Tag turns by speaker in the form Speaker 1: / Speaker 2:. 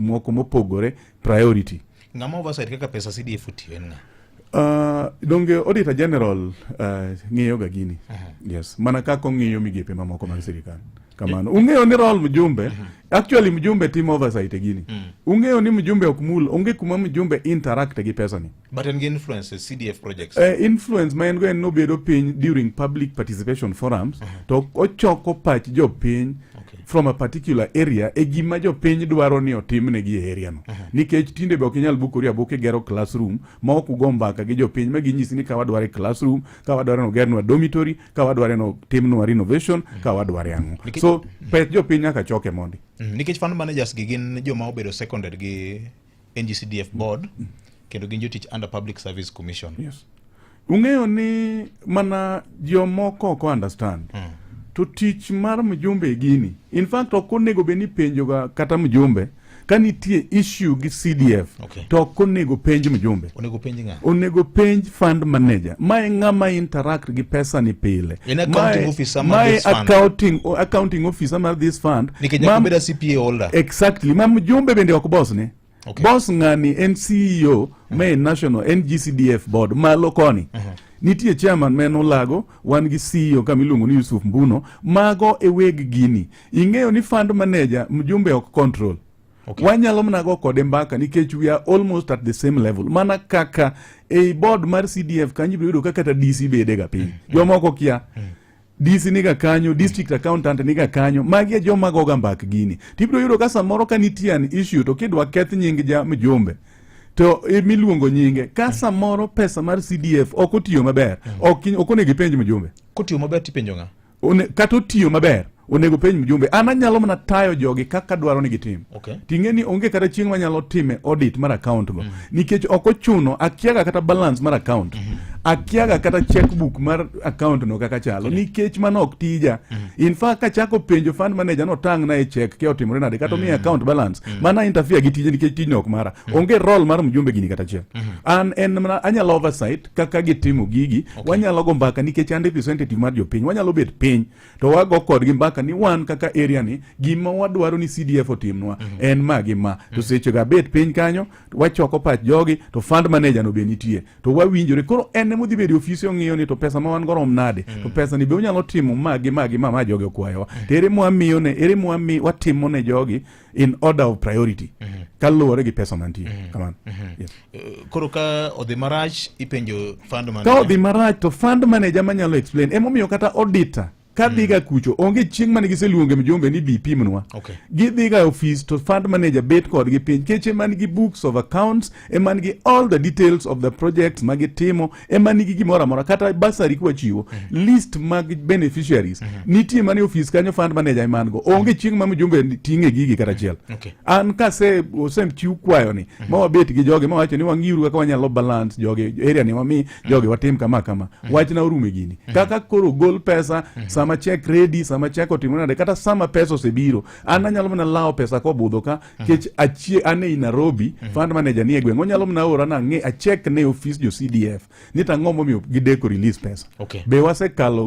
Speaker 1: moko mopogore priority ng'ama oversight kaka
Speaker 2: pesa CDF otiyo en ng'a Uh,
Speaker 1: donge auditor general uh, ng'iyo ga gini uh -huh. yes mana kaka ong'iyo migepe mamoko mag sirikal kamano ung'eyo ni rol mjumbe uh -huh. actually mjumbe timo oversight e gini uh mm. -huh. ung'eyo ni mjumbe ok mul onge kuma mjumbe interact gi pesani But an influence
Speaker 2: CDF projects. Uh, influence ma en go
Speaker 1: en nobedo piny during public participation forums uh -huh. to ochoko pach jopiny okay. from a particular area e gima jopiny dwaro ni otimnegi e area no uh -huh. nikech tinde be ok inyal bukori abuka igero classroom ma ok ugo mbaka gi jopiny ma ginyisi ni ka wadware classroom ka wadware nogernwa dormitory ka wadware no timnwa renovation uh -huh. ka wadware ang'o Nike... so peth jopiny nyaka choke mondi mm. nikech fund managers
Speaker 2: gi gin joma obedo seconded gi NGCDF board mm. kendo gin jotich under Public Service Commission. Yes.
Speaker 1: Ung'eyo ni mana jomoko ok understand. Mm. To tich mar mjumbe e gini. In fact ok onego bed ni penjoga kata mjumbe ka nitie issue gi CDF okay. to ok onego penj mjumbe. onego penj ng'a onego
Speaker 2: penj fund
Speaker 1: manager mae ng'ama interact gi pesa ni pile in accounting officer
Speaker 2: ma this fund accounting accounting officer
Speaker 1: ma this fund nikech nyaka beda CPA
Speaker 2: holder exactly mam jumbe
Speaker 1: bende ok boss ne okay. boss ng'ani en CEO uh -huh. ma national NGCDF board malo koni uh -huh. nitie chairman ma en Olago, wan gi CEO kama iluongo ni Yusuf Mbuno, mago e weg gini. Ing'eyo ni fund manager mjumbe ok control. Okay. Wanyalo mana go kode mbaka nikech we are almost at the same level. Mana kaka ei board mar CDF kanyo ibiro yudo kaka ta DC bede ga piny. Mm. mm. Jomoko kia. Mm. DC niga kanyo, district mm. accountant niga kanyo, magi e joma goga mbak gini. Tibiro yudo ka samoro ka nitie an issue to kidwa keth nying ja mjumbe to imiluongo nyinge ka mm. samoro pesa mar CDF ok otiyo maber, mm. ok onego ipenj mjumbe. Kotiyo maber tipenjo
Speaker 2: ng'a? kata otiyo
Speaker 1: maber onego penj mjumbe an anyalo mana tayo jogi kaka dwaro ni gitim okay. ting'e ni onge kata chieng' manyalo time audit mar account go mm -hmm. nikech ok ochuno akiaga kata balance mar account mm -hmm. akiaga kata checkbook mar account no kaka chalo okay. nikech mano ok tija mm -hmm. in fact kachako penjo fund manager no tang na e check ke otimore nade kata omiye mm -hmm. account balance mm -hmm. mana interfere gi tije nikech tijno ok mara mm -hmm. onge role mar mjumbe gini kata chieng' mm -hmm. an en mana anyalo oversight kaka gitimo gigi okay. wanyalo go mbaka nikech an representative mar jopiny wanyalo bet piny to wago kodgi mbaka ni wan kaka area ni gima wadwaro ni CDF otimnwa mm -hmm. en ma gi ma mm -hmm. to seche ga bet piny kanyo wachoko pach jogi to fund manager no be nitie to wawinjore koro en emodhi bedo ofisi ong'iyo ni to pesa ma wan go rom nade mm -hmm. to pesa ni be unyalo timo ma gi ma gi ma ma jogi okwayowa mm -hmm. to ere mwamiyo ne ere mwami watimo ne jogi in order of priority mm -hmm. kaluwore gi pesa mantie mm -hmm. kamano mm -hmm. yes. uh, koro ka
Speaker 2: odhi marach ipenjo fund manager ka odhi marach to fund
Speaker 1: manager manyalo explain emomiyo kata auditor kadhiga mm. kucho onge chieng' mane giseluonge mjumbe ni bi pimnwa okay. gidhiga e office to fund manager bet kodgi piny keche man gi books of accounts e man gi all the details of the projects magitimo ema nigi gimoro amora kata basari kwachiwo mm -hmm. list mag beneficiaries mm -hmm. nitie mane ofis kanyo fund manager eman go onge chieng' ma mjumbe ting'e gigi kata achiel mm -hmm. okay. an kase osechiw kwayoni mm -hmm. ma wabet gi joge ma wacho ni wang'iuru kaka wanyalo balance joge area ni wami mhm. joge watim kama kama mm -hmm. wachna orume e gini mm -hmm. kaka koro gol pesa mm -hmm. sama check ready sama check otimore nade kata sama pesa osebiro an anyalo mana lawo pesa kobudho ka Mhm. kech achie ane i Nairobi mhm. fund manager ni e gweng onyalo mna ora na nge achek ne office jo CDF ni tang'o momiyo gideko release pesa okay. be wasekalo